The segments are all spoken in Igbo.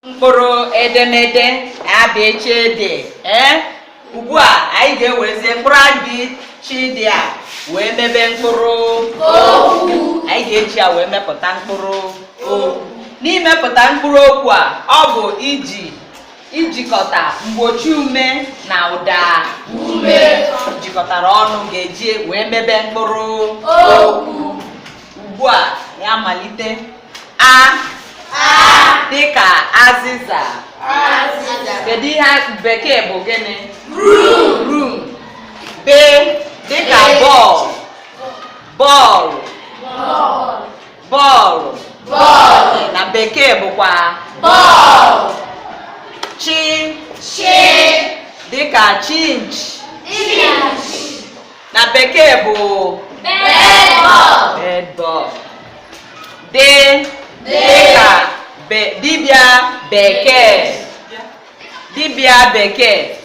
mkpụrụ edemede a bị chị dị ee ugbu a anyị ga-ewerezie mkpụrụ a bị chị dị a wee mebe mkpụrụ okwu anyị ga-eji ya wee mepụta mkpụrụ okwu n'imepụta mkpụrụ okwu a ọ bụ iji ijikọta mgbochi ume na ụda ume jikọtara ọnụ ga-eji wee mebe mkpụrụ okwu ugbu a ya malite a dịka azịza kedu ihe bekee bụ gịnị broom b dịka bọọlụ bọọlụ bọọlụ bọọlụ na bekee bụkwa ball chị chị dịka chinchi chinchi na bekee bụ bedbug bedbug dị dịka dibịa bekee dibịa bekee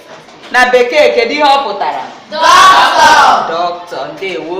na bekee kedu ihe ọ pụtara doctor doctor ndewo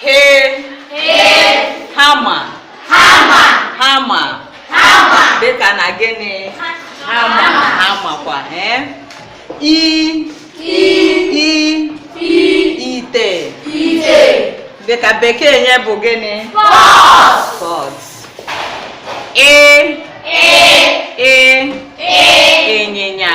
hị hama hama dịka na gịnị hammer hammer kwa eh? i i ite dịka bekee ya bụ gịnị pot ị ị ịnyịnya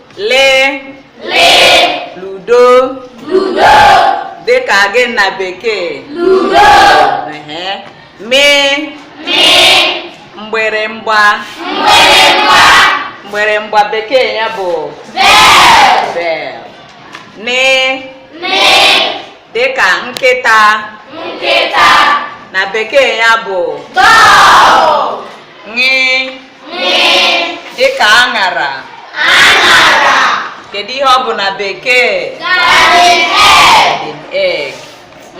lị lị ludo ludo dị ka gịnị na bekee ludo mị mị mgbịrịmgba mgbịrịmgba mgbịrịmgba bekee ya bụ bell bell nị nị dịka nkịta nkịta na bekee ya bụ dog ṅị ṅị dịka aṅara aṅara kedu ihe ọ bụ na bekee garden egg garden egg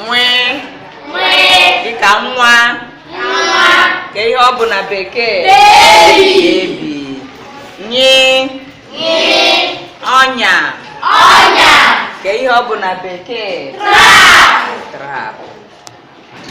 nwị nwị dịka nwa nwa kee ihe ọ bụ na bekee baby baby nyị ọnya ọnya kee ihe ọ bụ na bekee trap